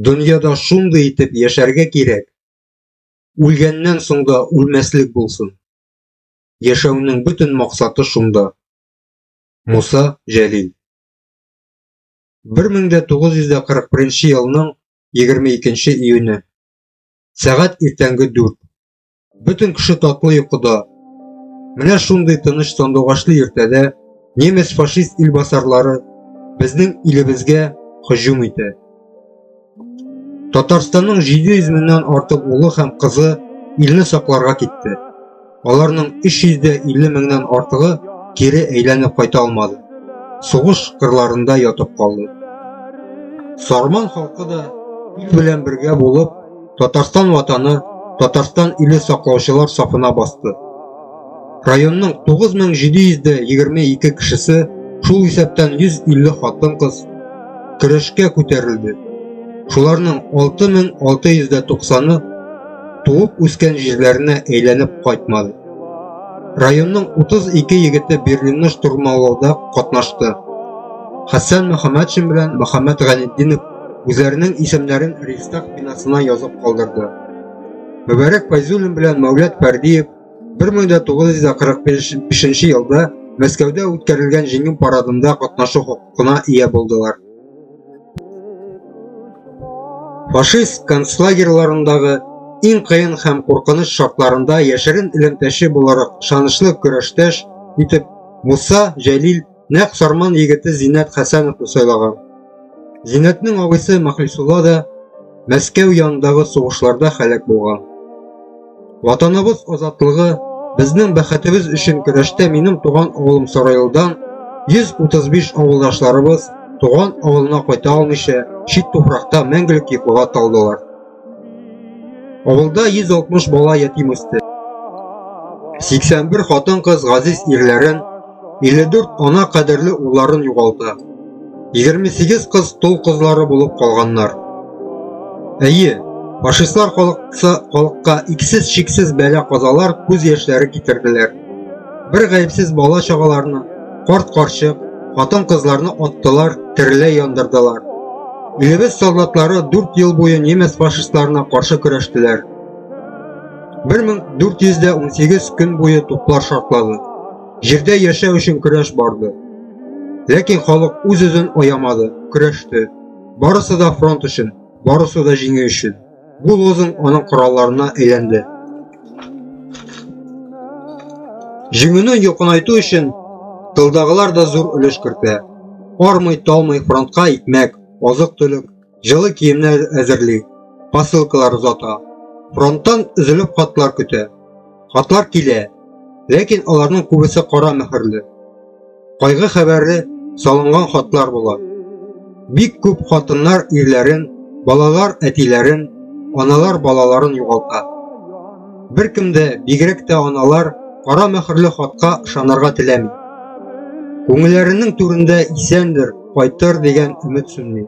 Дөньяда шундый итеп яшәргә кирәк, үлгәннән соң да үлмәслек булсын. Яшәүнең бөтен максаты шунда. Муса Җәлил 1941 елның 22 июне. Сәгать иртәнге 4. Бөтен кеше татлы йокыда. Менә шундый тыныч сандугачлы иртәдә немец фашист илбасарлары безнең илебезгә һөҗүм итә. Татарстанның 700 меңнән артык улы һәм кызы илне сакларга китте. Аларның 350 меңнән артыгы кире әйләнеп кайта алмады. Сугыш кырларында ятып калды. Сарман халкы да ил белән бергә булып, Татарстан ватаны, Татарстан иле саклаучылар сафына басты. Районның 9722 кешесе, шул исәптән 150 хатын-кыз көрәшкә күтәрелде. Шуларның 6690-ы туып үскән җирләренә әйләнеп кайтмады. Районның 32 егете Берлинны штурмалауда катнашты. Хәсән Мөхәммәтшин белән Мөхәммәт Ганетдинов үзләренең исемнәрен Рейхстаг бинасына язып калдырды. Мөбарәк Файзуллин белән Мәүләт Пәрдиев 1945 елда Мәскәүдә үткәрелгән җиңү парадында катнашу хокукына ия булдылар. Фашист концлагерьларындагы иң кыен һәм куркыныч шартларында яшерен элемтәче буларак шанышлы көрәштәш итеп Муса Җәлил Нәкъ Сарман егете Зиннәт Хәсәновны сайлаган. Зиннәтнең абыйсы Махлисулла да Мәскәү янындагы сугышларда халәк булган. Ватаныбыз азатлыгы, безнең бәхетебез өчен көрәштә минем туган авылым Сарайлыдан 135 авылдашларыбыз туган авылына кайта алмыйча чит туфракта мәңгелек йоклыга талдылар. Авылда 160 бала ятим үсте. 81 хатын-кыз газиз ирләрен, 54 ана кадерле улларын югалта. 28 кыз тол кызлары булып калганнар. Әйе, фашистлар халыкка иксез-чиксез бәла казалар, күз яшьләре китерделәр. Бер гаепсез бала чагаларны, корт карчык, хатын кызларны оттылар, тереләй яндырдылар. Илебез солдатлары 4 ел буе немец фашистларына каршы көрәштеләр. 1418 көн буе туплар шартлады. Җирдә яшәү өчен көрәш барды. Ләкин халык үз-үзен оямады, көрәште. Барысы да фронт өчен, барысы да җиңү өчен. Bu lozung onun kurallarına eylendi. Җиңүне якынайту өчен тылдагылар да зур өлеш кертә. Армый, талмый фронтка икмәк, азык-төлек, җылы киемнәр әзерли, посылкалар озата. Фронттан өзелеп хатлар көтә. Хатлар килә, ләкин аларның күбесе кара мөхерле. Кайгы хәбәре салынган хатлар була. Бик күп хатыннар ирләрен, балалар әтиләрен, аналар балаларын югалта. Беркем дә, бигрәк тә аналар, кара мөхерле хатка ышанырга теләми. Күңелләренең түрендә исәндер, кайтыр дигән өмет сүнми.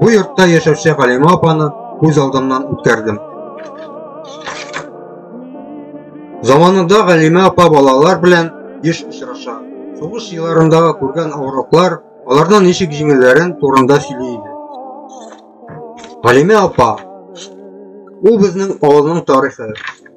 Бу йортта яшәүче Галима апаны күз алдымнан үткәрдем. Заманында Галима апа балалар белән еш очраша. Сугыш елларындагы күргән авырлыклар, алардан ничек җиңелләрен турында сөйли иде. Галимә апа, ул безнең авылның тарихы.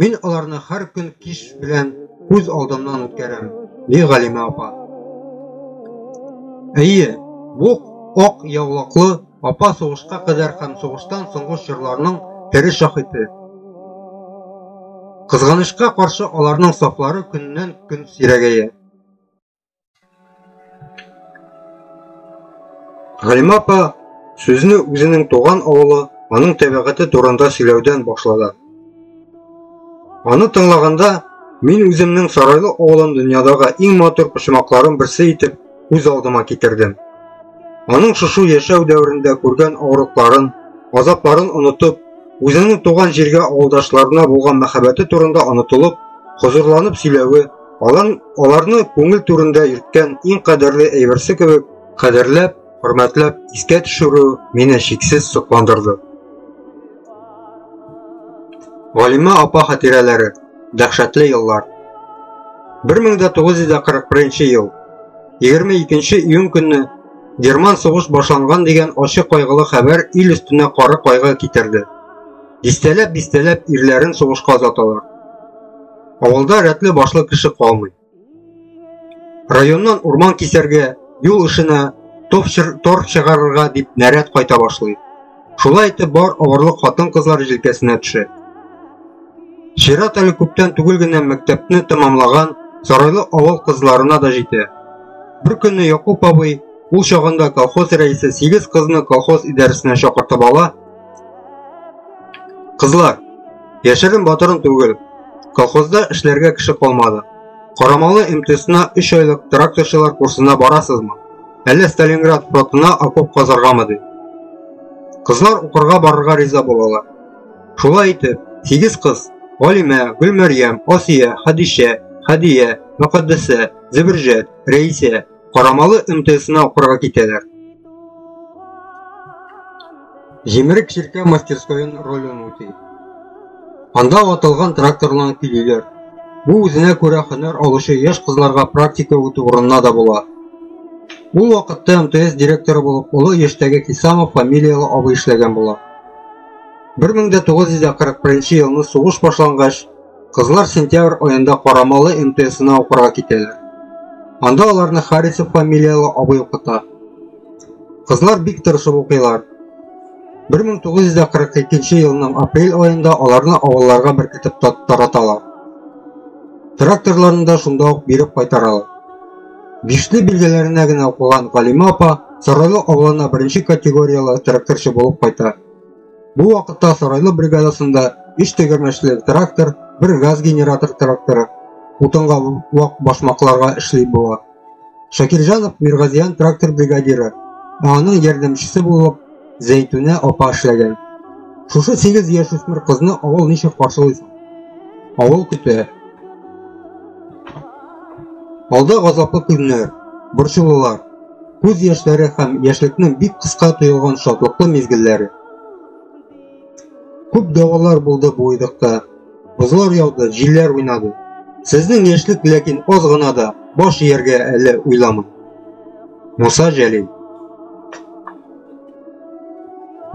Мин аларны һәр көн кич белән күз алдымнан үткәрәм, ди Галимә апа. Әйе, бу ак яулаклы апа сугышка кадәр һәм сугыштан соңгы чорларның тере шаһиты. Кызганычка каршы аларның сафлары көннән көн сирәгәя. Галима апа сүзне үзенең туган авылы, аның табигате турында сөйләүдән башлады. Аны тыңлаганда мин үземнең Сарайлы авылын дөньядагы иң матур почмакларын берсе итеп үз алдыма китердем. Аның шушы яшәү дәверендә күргән авырлыкларын, азапларын онытып, үзенең туган җиргә авылдашларына булган мәхәббәте турында онытылып, хозурланып сөйләве Алан, аларны күңел түрендә йөрткән иң кадерле әйберсе кебек, кадерләп, хөрмәтләп искә төшерү мине шиксез сокландырды. Галимә апа хатирәләре, дәһшәтле еллар. 1941 ел. 22 июнь көнне Герман сугыш башланган дигән ачы кайгылы хәбәр ил өстенә кары кайгы китерде. Дистәләп-дистәләп ирләрен сугышка озаталар. Авылда рәтле башлы кеше калмый. Районнан урман кисәргә, юл эшенә тор чыгарырга дип нәрәт кайта башлый. Шулай итеп бар авырлык хатын-кызлар җилкәсенә төшә. Чират әле күптән түгел генә мәктәпне тәмамлаган Сарайлы авыл кызларына да җитә. Бер көнне Якуб абый ул чагында колхоз рәисе сигез кызны колхоз идарәсенә чакыртып ала Кызлар, яшерен батырын түгел. Колхозда эшләргә кеше калмады. Карамалы МТСна 3 айлык тракторчылар курсына барасызмы? Әллә Сталинград фронтына окоп казаргамы ди? Кызлар укырга барырга риза булалар. Шулай итеп, 8 кыз, Галимә, Гөлмәрьям, Асия, Хадишә, Хадия, Мөхәддәсә, Зөберҗәт, Рәисә, Карамалы МТСына укырга китәләр. Җимерек чиркә мастерскоен ролен үти. Анда ватылган тракторларны көйлиләр. Бу үзенә күрә хөнәр алучы яшь кызларга практика үтү урынына да була. Ул вакытта МТС директоры булып олы яшьтәге Хисамов фамилияле абый эшләгән була. 1941 елны сугыш башлангач, Кызлар сентябрь аенда Карамалы МТСына укырга китәләр. Анда аларны Харисов фамилияле абый укыта. Кызлар бик тырышып укыйлар. 1942 елның апрель аенда аларны авылларга беркетеп тараталар. Тракторларында шунда ук биреп кайтаралар. Бишле билгеләренә генә укыган Галима апа Сарайлы авылына беренче категориялы тракторчы булып кайта. Бу вакытта Сарайлы бригадасында өч тегермәчле трактор, бер газ генератор тракторы, утынга вак башмакларга эшли була. Шакирҗанов Миргазиян трактор бригадиры, ә аның ярдәмчесе булып Зәйтүнә апа эшләгән. Шушы 8 яшь үсмер кызны авыл ничек каршылый? Авыл көтә. Алда газаплы көннәр, борчулылар. Күз яшьләре һәм яшьлекнең бик кыска тоелган шатлыклы мизгелләре. Күп давалар булды бу уйдыкта. Бозлар яуды, җилләр уйнады. Сезнең яшьлек ләкин аз гына да баш ияргә әле уйламый. Муса Җәлил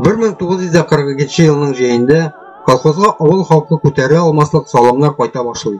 1942 елның җәендә колхозга авыл халкы күтәрә алмаслык салымнар кайта башлый.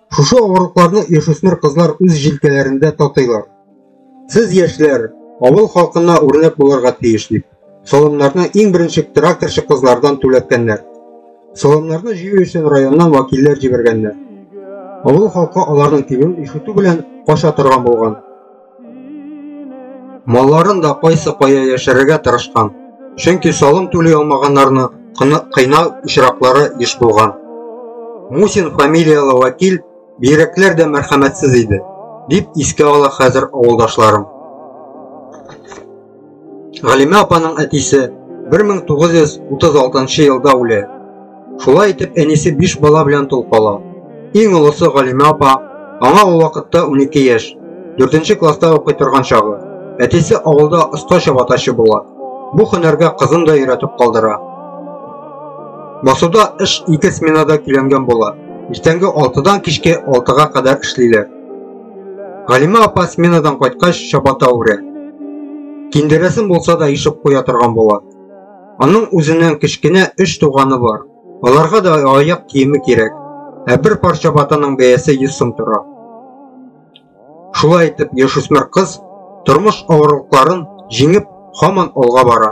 Шушы авырлыкларны яшүсмер кызлар үз җилкәләрендә татыйлар. Сез яшьләр, авыл халкына үрнәк булырга тиеш дип, салымнарны иң беренче тракторчы кызлардан түләткәннәр. Салымнарны җыю өчен районнан вәкилләр җибәргәннәр. Авыл халкы аларның тибен ишетү белән кача торган булган. Малларын да кайсы кая яшерергә тырышкан. Чөнки салым түли алмаганнарны кыйна очраклары еш булган. Мусин фамилияле вәкил бигрәкләр дә мәрхәмәтсез иде, дип искә ала хәзер авылдашларым. Галимә апаның әтисе 1936 елда үлә. Шулай итеп, әнисе 5 бала белән тол кала. Иң олысы Галимә апа, аңа ул вакытта 12 яшь, 4 класста укый торган чагы. Әтисе авылда оста чабатачы була. Бу һөнәргә кызын да өйрәтеп калдыра. Басуда эш ике сменада көйләнгән була. Иртәнге 6-дан кичке 6-га кадәр эшлиләр. Галимә апа сменадан кайткач чабата үрә. Киндерәсен булса да ишеп куя торган була. Аның үзеннән кечкенә өч туганы бар. Аларга да аяк киеме кирәк. Ә бер пар чабатаның бәясе 100 сум тора. Шулай итеп, яшүсмер кыз тормыш авырлыкларын җиңеп, хаман алга бара.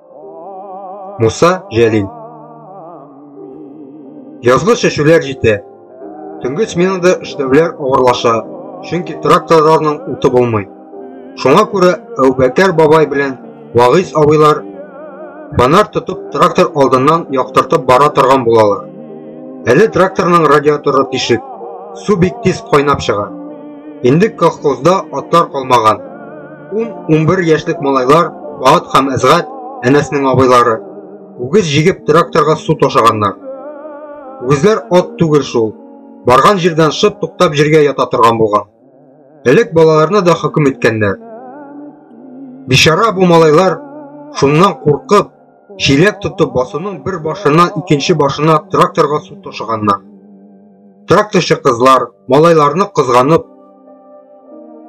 Муса Җәлил Язгы шешүләр җитә. Төнге сменада эшләүләр авырлаша, чөнки тракторларның уты булмый. Шуңа күрә Әүбәкәр бабай белән Вагыйс абыйлар фонарь тотып трактор алдыннан яктыртып бара торган булалар. Әле тракторның радиаторы тишек, су бик тиз кайнап чыга. Инде колхозда атлар калмаган. 10-11 яшьлек малайлар Баат һәм Әзгат әнәснең абыйлары. Үгез җигеп тракторга су ташаганнар. Үгезләр ат түгел шул. Барган җирдән шып туктап җиргә ята торган булган. Элек балаларны да хөкем иткәннәр. Бишара бу малайлар шуннан куркып Чиләк тотып басуның бер башыннан икенче башына тракторга су ташыганнар. Тракторчы кызлар, малайларны кызганып,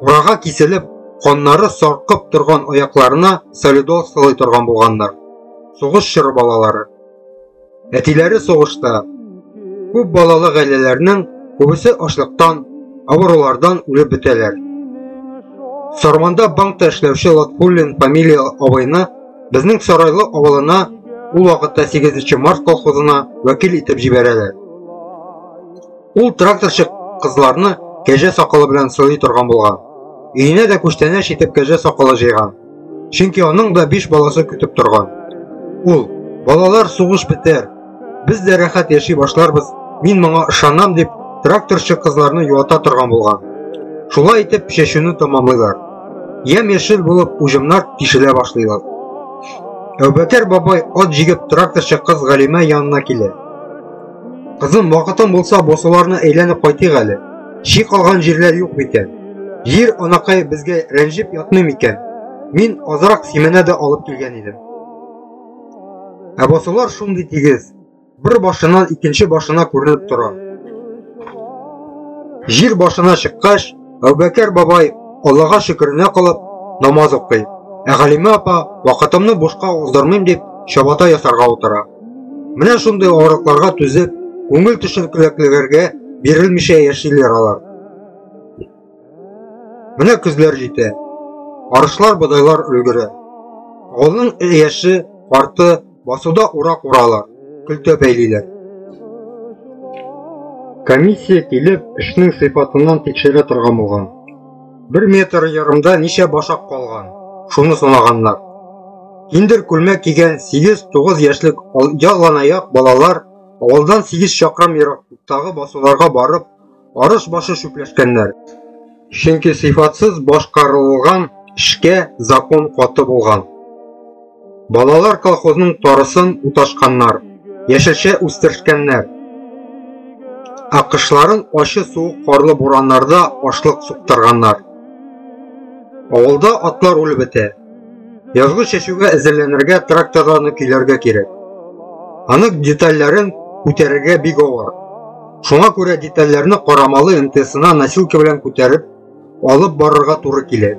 урага киселеп, каннары саркып торган аякларына солидол сылый торган булганнар. Сугыш чоры балалары. Әтиләре сугышта. Күп балалы гаиләләрнең күбесе ашлыктан, авырулардан үлеп бетәләр. Сарманда банкта эшләүче Латфуллин фамилия абыйны Безнең Сарайлы авылына ул вакытта 8 март колхозына вәкил итеп җибәрәләр. Ул тракторчы кызларны кәҗә сакалы белән сылый торган булган. Өенә дә күчтәнәч итеп кәҗә сакалы җыйган. Чөнки аның да 5 баласы көтеп торган. Ул, балалар сугыш бетәр, Без дә рәхәт яши башларбыз, мин моңа ышанам дип, тракторчы кызларны юата торган булган. Шулай итеп чәчүне тәмамлыйлар. Ямь-яшел булып уҗымнар тишелә башлыйлар. Әүбәкәр бабай ат җигеп тракторчы кыз Галимә янына килә. Кызым, вакытың булса, босуларны әйләнеп кайтыйк әле. Чи калган җирләр юк микән? Җир анакай безгә рәнҗеп ятмый микән? Мин азрак сименә дә алып килгән идем. Ә басулар шундый тигез, бер башыннан икенче башына күренеп тора. Җир башына чыккач, Әүбәкәр бабай Аллага шөкеренә калып намаз укый. Ә Галимә апа вакытымны бушка уздырмыйм дип чабата ясарга утыра. Менә шундый авырлыкларга түзеп, күңел төшенкелекләргә бирелмичә яшиләр алар. Менә көзләр җитә. Арышлар бодайлар өлгерә. Авылның яше, карты басуда урак уралар, көлтә бәйлиләр. Комиссия килеп, эшнең сыйфатыннан тикшерә торган булган. Бер метр ярымда ничә башак калган, шуны санаганнар. Киндер күлмәк кигән 8-9 яшьлек яланаяк балалар авылдан 8 чакрам ерактагы басуларга барып, арыш башы чүпләшкәннәр. Чөнки сыйфатсыз башкарылган эшкә закон каты булган. Балалар колхозның тарысын уташканнар, яшелчә үстершкәннәр. Акышларын ачы суык карлы бураннарда ашлык суктырганнар. Авылда атлар үлеп бетә. Язгы чәчүгә әзерләнергә тракторларны көйләргә кирәк. Аның детальләрен күтәрергә бик авыр. Шуңа күрә детальләрне карамалы МТСына носилка белән күтәреп, алып барырга туры килә.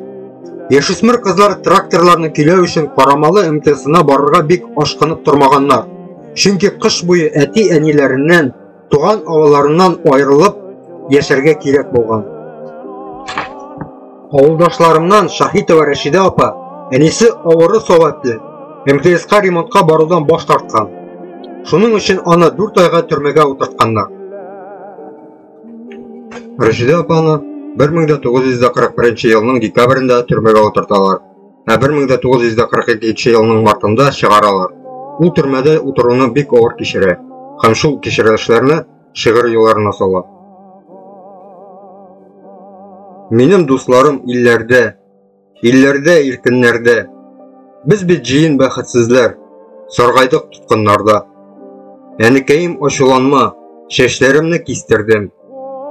Яшүсмер кызлар тракторларны көйләү өчен карамалы МТСына барырга бик ашкынып тормаганнар. Чөнки кыш буе әти-әниләреннән Туган авылларыннан аерылып яшәргә кирәк булган. Авылдашларымнан Шаһитова Рәшидә апа, әнисе авыры сәбәпле, МТСка ремонтка барудан баш тарткан. Шуның өчен аны 4 айга төрмәгә утыртканнар. Рәшидә апаны 1941 елның декабрендә төрмәгә утырталар. Ә 1942 елның мартында чыгаралар. Ул төрмәдә утыруны бик авыр кичерә һәм шул кичерелешләрне шигырь юлларына сала. Минем дусларым илләрдә, илләрдә иркеннәрдә. Без бит җыен бәхетсезләр, саргайдык тоткыннарда. Әнекәем ачуланма, чәчләремне кистердем.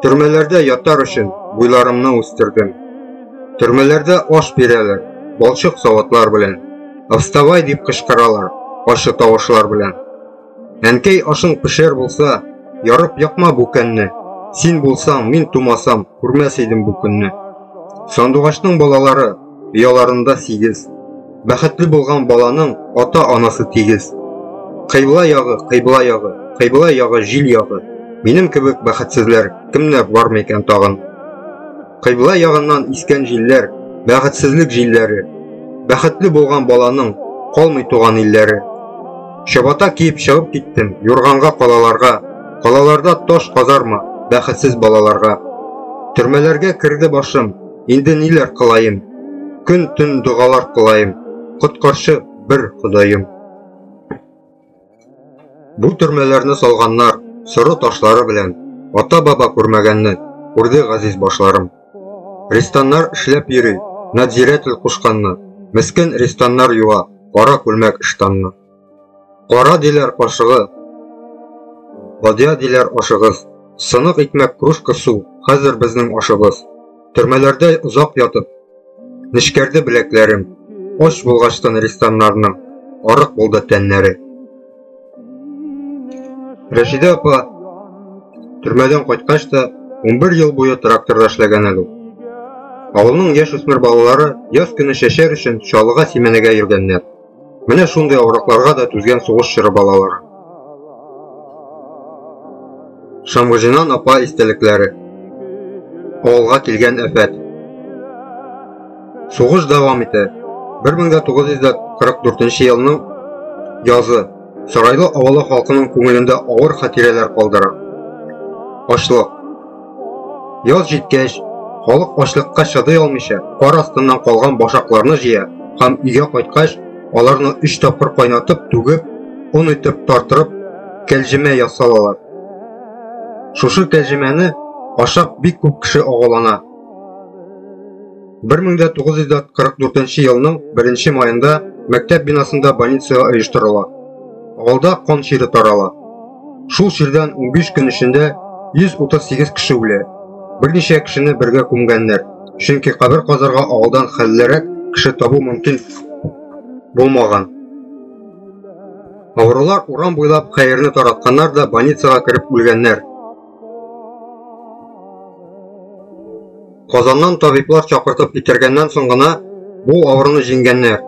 Төрмәләрдә ятар өчен буйларымны үстердем. Төрмәләрдә аш бирәләр, балчык савытлар белән. Вставай дип кычкыралар, ачы тавышлар белән. Әнкәй ашың пешер булса, ярып якма бу көнне. Син булсаң, мин тумасам, күрмәс идем бу көнне. Сандугачның балалары ояларында сигез. Бәхетле булган баланың ата-анасы тигез. Кыйбла ягы, кыйбла ягы, кыйбла ягы җил ягы. Минем кебек бәхетсезләр кемнәр бар микән тагын? Кыйбла ягыннан искән җилләр, бәхетсезлек җилләре. Бәхетле булган баланың калмый туган илләре. Чабата киеп чыгып киттем, юрганга калаларга. Калаларда таш казарма, бәхетсез балаларга. Төрмәләргә керде башым, Инде ниләр кылаем? Көн-төн догалар кылаем. Коткарчы бер Ходаем. Бу төрмәләрне салганнар, соры ташлары белән, ата-баба күрмәгәнне, күрде газиз башларым. Рестаннар эшләп йөри, надзиратель кушканны, мескен рестаннар юа, кара күлмәк ыштанны. Кара диләр кашыгы, бадья диләр ашыгыз. Сынык икмәк кружка су, хәзер безнең ашыбыз. Төрмәләрдә озак ятып, нечкәрде беләкләрем. Оч булгачтан рестаннарның, арык булды тәннәре. Рәшидә апа төрмәдән кайткач та 11 ел буе тракторда эшләгән әле. Авылның яшь үсмер балалары яз көне чәчәр өчен чалыга сименәгә йөргәннәр. Менә шундый авыракларга да түзгән сугыш чоры балалары. Шамгыжинан апа истәлекләре. Авылга килгән әфәт. Сугыш дәвам итә. 1944 елның язы Сарайлы авылы халкының күңелендә авыр хатирәләр калдыра. Ашлык, Яз җиткәч, халык ачлыкка чыдый алмыйча, кар астыннан калган башакларны җыя һәм өйгә кайткач, аларны өч тапкыр кайнатып, түгеп, он итеп тартырып, кәлҗемә ясалалар. Шушы кәлҗемәне ашап бик күп кеше агулана. 1944 елның 1 маенда мәктәп бинасында больница оештырыла. Авылда кан чире тарала. Шул чирдән 15 көн эчендә 138 кеше үлә. Берничә кешене бергә күмгәннәр. Чөнки кабер казарга авылдан хәллерәк кеше табу мөмкин булмаган. Авырулар урам буйлап хәерне таратканнар да больницага кереп үлгәннәр. Казаннан табиблар чакыртып китергәннән соң гына бу авыруны җиңгәннәр.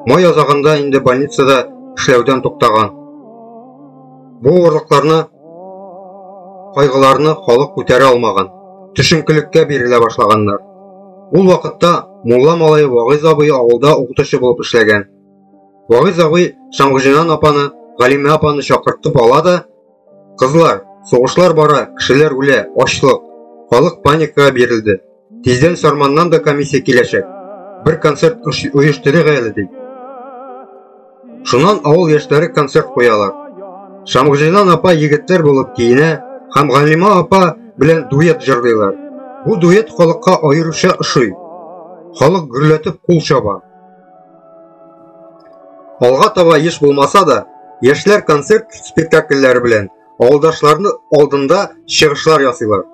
Май азагында инде больницада эшләүдән туктаган. Бу авырлыкларны, кайгыларны халык күтәрә алмаган, төшенкелеккә бирелә башлаганнар. Ул вакытта мулла малае Вагыйз абый авылда укытучы булып эшләгән. Вагыйз абый Шамгыҗинан апаны, Галимә апаны чакыртып ала да, Кызлар, сугышлар бара, кешеләр үлә, ачлык. Халык паникага бирелде. Тиздән Сарманнан да комиссия киләчәк. Бер концерт оештырыйк әле ди. Шуннан авыл яшьләре концерт куялар. Шамгыҗинан апа егетләр булып киенә һәм Галима апа белән дуэт җырлыйлар. Бу дуэт халыкка аеруча ошый. Халык гөрләтеп кул чаба. Алга таба еш булмаса да, яшьләр концерт спектакльләре белән авылдашларны алдында чыгышлар ясыйлар.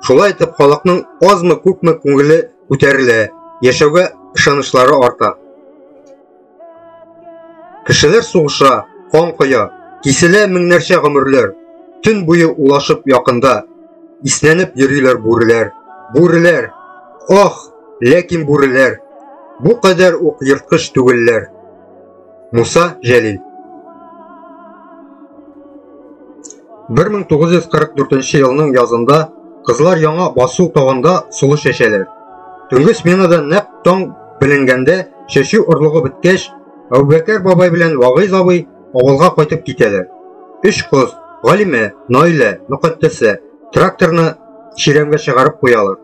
Шулай итеп халыкның азмы күпме күңеле күтәрелә, яшәүгә ышанычлары арта. Кешеләр сугыша, кан коя, киселә меңнәрчә гомерләр. Төн буе улашып якында, иснәнеп йөриләр бүреләр. Бүреләр! Ох! Ләкин бүреләр бу кадәр ук ерткыч түгелләр. Муса Җәлил 1944 елның язында кызлар яңа басу тагында сулыш чәчәләр. Төнге сменада нәп таң беленгәндә чәчү орлыгы беткәч, Әүбәкәр бабай белән Вагыйз абый авылга кайтып китәләр. Өч кыз, Галимә, Наилә, Мөкатдәсә, тракторны чирәмгә чыгарып куялар.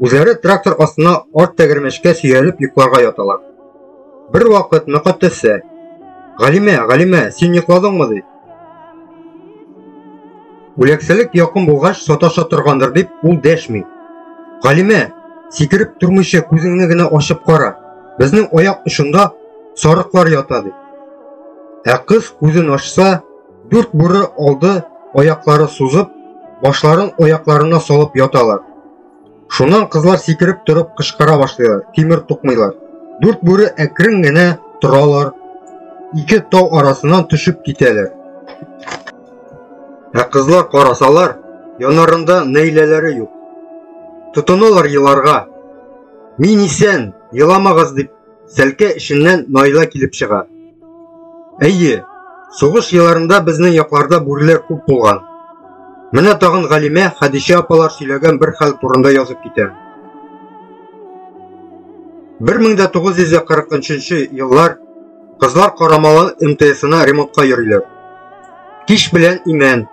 Үзләре трактор астына арт тәгәрмәчкә сөялеп йокларга яталар. Бер вакыт мөкатәссә, Галимә, Галимә, син йокладыңмы ди? Үләксәлек якын булгач саташа торгандыр дип ул дәшми. Галимә, сикереп тормыйча күзеңне генә ачып кара. Безнең аяк очында сарыклар ята ди. Ә кыз күзен ачса, дүрт бүры алды аяклары сузып, башларын аякларына салып яталар. Шуннан кызлар сикереп торып кычкыра башлыйлар, тимер тукмыйлар. Дүрт бүре әкрен генә торалар, ике тау арасыннан төшеп китәләр. Ә кызлар карасалар, янарында нәйләләре юк. Тотыналар еларга. Мин исән, еламагыз дип Сәлкә эченнән Наила килеп чыга. Әйе, сугыш елларында безнең якларда бүреләр күп булган. Менә тагын Галимә Хәдичә апалар сөйләгән бер хәл турында язып китә. 1943 еллар кызлар Карамалы МТСына ремонтка йөриләр. Кич белән Имән,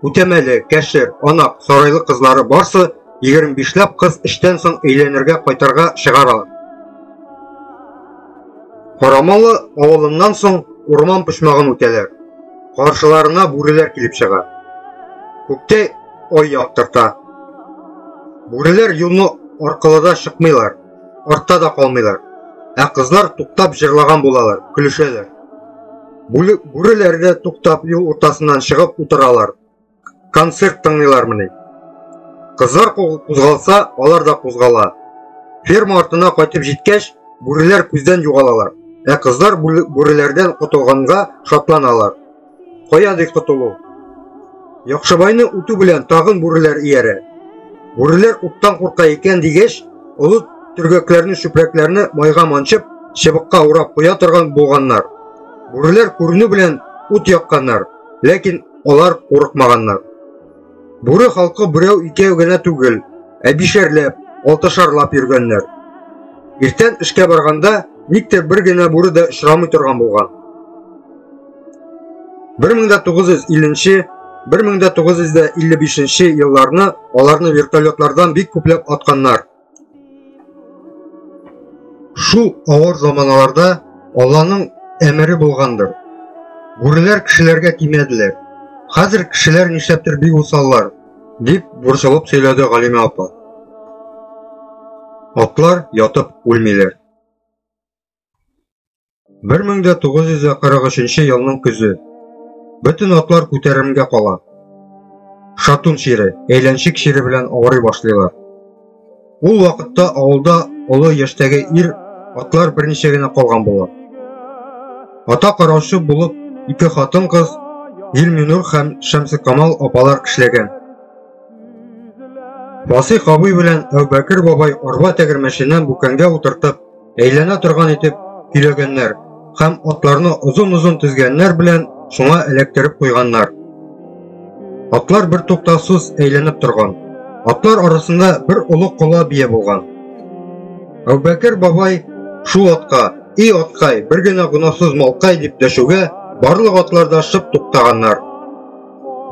Үтәмәле, Кәшер, Анак, Сарайлы кызлары барсы Егерме бишләп кыз эштән соң өйләнергә кайтарга чыгар ала. Карамалы авылыннан соң урман почмагын үтәләр. Каршыларына бүреләр килеп чыга. Күктә ой яктырта. Бүреләр юлны аркылыда чыкмыйлар, артта да калмыйлар. Ә кызлар туктап җырлаган булалар, көлешәләр. Бүреләр дә туктап юл уртасыннан чыгып утыралар. концерт тыңлыйлармыни? Кызлар кузгалса, алар да кузгала. Ферма артына кайтып җиткәч, бүреләр күздән югалалар. Ә кызлар бүреләрдән котылганга шатланалар. Кая ди котылу? Яхшыбайны үтү белән тагын бүреләр иярә. Бүреләр уттан курка икән дигәч, олы төргәкләрне, чүпрәкләрне майга манчып, чыбыкка урап куя торган булганнар. Бүреләр күренү белән ут якканнар, ләкин Алар курыкмаганнар. Бүре халкы берәү икәү генә түгел, ә бишәрләп, алтышарлап йөргәннәр. Иртән эшкә барганда никтер бер генә бүре дә очрамый торган булган. 1950-1955 елларны аларны вертолетлардан бик күпләп атканнар. Шул авыр заманаларда Алланың әмере булгандыр. Бүреләр кешеләргә тимәделәр. Хәзер кешеләр нишләптер бик усаллар, дип борчылып сөйләде Галимә апа. Атлар ятып үлмиләр. 1943 елның көзе. Бөтен атлар күтәремгә кала. Шатун чире, әйләнчек чире белән авырый башлыйлар. Ул вакытта авылда олы яшьтәге ир атлар берничә генә калган була. Ата караучы булып ике хатын кыз Гилминур һәм Шәмсекамал апалар эшләгән. Васый абый белән Әүбәкер бабай арба тәгәрмәченнән бүкәнгә утыртып, Әйләнә торган итеп көйләгәннәр һәм атларны озын-озын тезгәннәр белән шуңа эләктереп куйганнар. Атлар бер туктасыз әйләнеп торган. Атлар арасында бер олы кола бия булган. Әүбәкер бабай шул атка, и аткай, бер генә гынасыз малкай дип дәшүгә, барлык атлар да шып туктаганнар.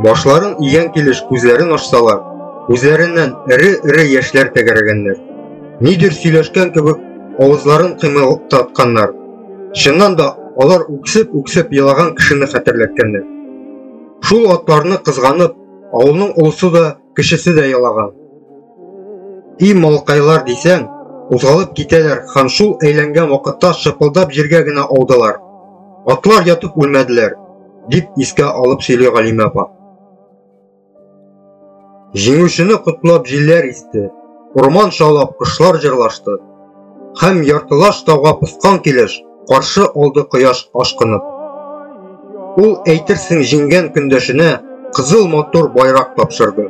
Башларын игән килеш күзләрен ачсалар, күзләреннән эре-эре яшьләр тәгәрәгәннәр. Нидер сөйләшкән кебек авызларын кыймылдатканнар. Чыннан да алар үксеп-үксеп елаган кешене хәтерләткәннәр. Шул атларны кызганып, авылның олысы да, кешесе дә ялаган. И малкайлар дисәң, узгалып китәләр һәм шул әйләнгән вакытта шыпылдап җиргә генә аудылар. Атлар ятып үлмәделәр. дип искә алып сөйли Галимә апа. Җиңүчене котлап җилләр исте, урман шаулап кошлар җырлашты. Һәм яртылаш тауга поскан килеш каршы алды кояш ашкынып. Ул әйтерсең җиңгән көндәшенә кызыл матур байрак тапшырды.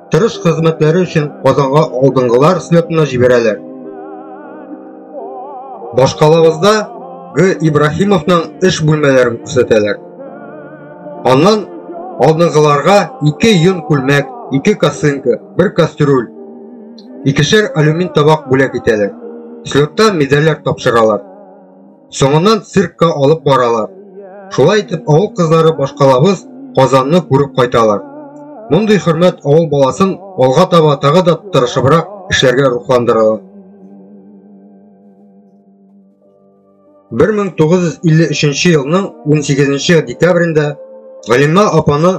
Тырыш хезмәтләре өчен Казанга алдынгылар слетына җибәрәләр. Башкалабызда Г. Ибраһимовның эш бүлмәләрен күрсәтәләр. Аннан алдынгыларга ике йон күлмәк, ике косынка, бер кастрюль, икешәр алюмин табак бүләк итәләр. Слетта медальләр тапшыралар. Соңыннан циркка алып баралар. Шулай итеп авыл кызлары башкалабыз Казанны күреп кайталар. Мондый хөрмәт авыл баласын алга таба тагы да тырышыбрак эшләргә рухландыралар. 1953 елның 18 декабрендә Галимә апаны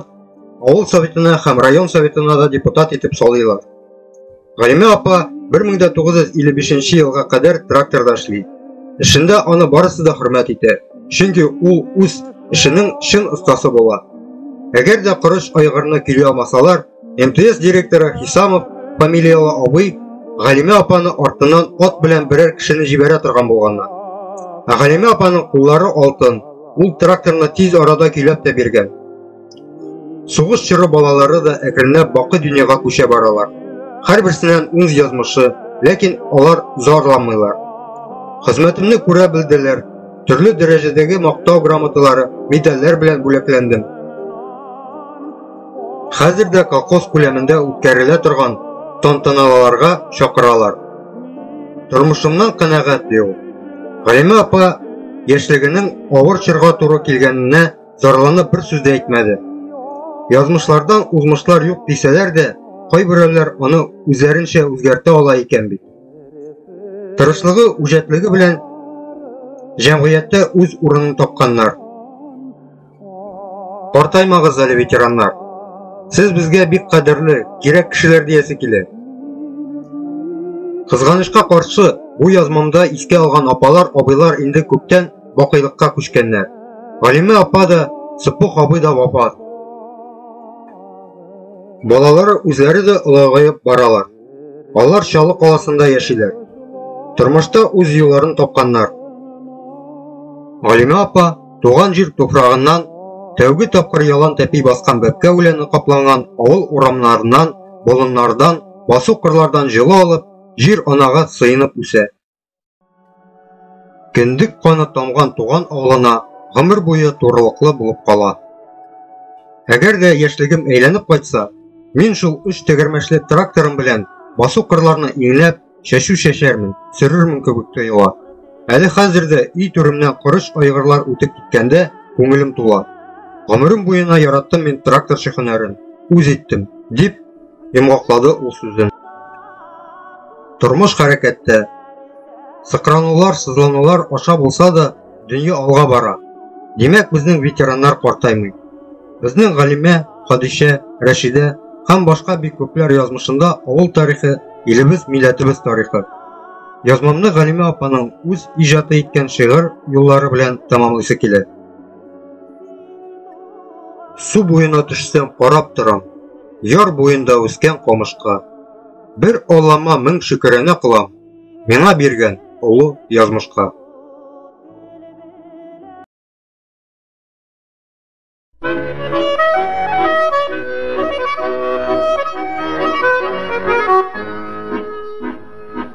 авыл советына һәм район советына да депутат итеп салыйлар. Галимә апа 1955 елга кадәр тракторда эшли. Эшендә аны барысы да хөрмәт итә, чөнки ул үз эшенең чын остасы була. Әгәр дә корыч айгырны кили алмасалар, МТС директоры Хисамов фамилиялы абый Галимә апаны артыннан ат белән берәр кешене җибәрә торган булганна. Ә Галимә апаның куллары алтын, ул тракторны тиз арада көйләп тә биргән. Сугыш чоры балалары да әкренләп бакы дөньяга күчә баралар. Һәрберсеннән үз язмышы, ләкин алар зарланмыйлар. Хезмәтемне күрә белделәр. Төрле дәрәҗәдәге мактау грамоталары, медальләр белән бүләкләндем. Хәзер дә колхоз күләмендә үткәрелә торган тантаналарга чакыралар. Тормышымнан канәгать ди ул. Галимә апа яшьлегенең авыр чорга туры килгәненә зарланып бер сүз дә әйтмәде. Язмышлардан узмышлар юк дисәләр дә, кайберәүләр аны үзләренчә үзгәртә ала икән бит. Тырышлыгы, үҗәтлеге белән җәмгыятьтә үз урынын тапканнар. Картаймагыз әле, ветераннар. Сез безгә бик кадерле, кирәк кешеләр диясе килә. Кызганычка каршы, бу язмамда искә алган апалар, абыйлар инде күптән бакыйлыкка күчкәннәр. Галимә апа да, Сыппух абый да вафат. Балалары үзләре дә олыгаеп баралар. Алар Чалы каласында яшиләр. Тормышта үз юлларын тапканнар. Галимә апа туган җир туфрагыннан тәүге тапкыр ялан тәпи баскан бәпкә үләне капланган авыл урамнарыннан, болыннардан, басу кырлардан җылы алып, җир анага сыенып үсә. Кендек каны тамган туган авылына гомер буе турылыклы булып кала. Әгәр дә яшьлегем әйләнеп кайтса, мин шул өч тәгәрмәчле тракторым белән басу кырларны иңләп, чәчү чәчәрмен, сөрермен кебек тоела. Әле хәзер дә өй түремнән корыч айгырлар үтеп киткәндә күңелем тула. Гомерем буена яраттым мин тракторчы һөнәрен, үз иттем, дип йомгаклады ул сүзен. Тормыш хәрәкәттә. Сыкранулар, сызланулар аша булса да, дөнья алга бара. Димәк, безнең ветераннар картаймый. Безнең Галимә, Хадишә, Рәшидә һәм башка бик күпләр язмышында авыл тарихы, илебез, милләтебез тарихы. Язмамны Галимә апаның үз иҗаты иткән шигырь юллары белән тәмамлыйсы килә. Су буена төшсәм, карап торам, яр буенда үскән камышка. Бер алама мең шөкерәнә кылам, миңа биргән олы язмышка.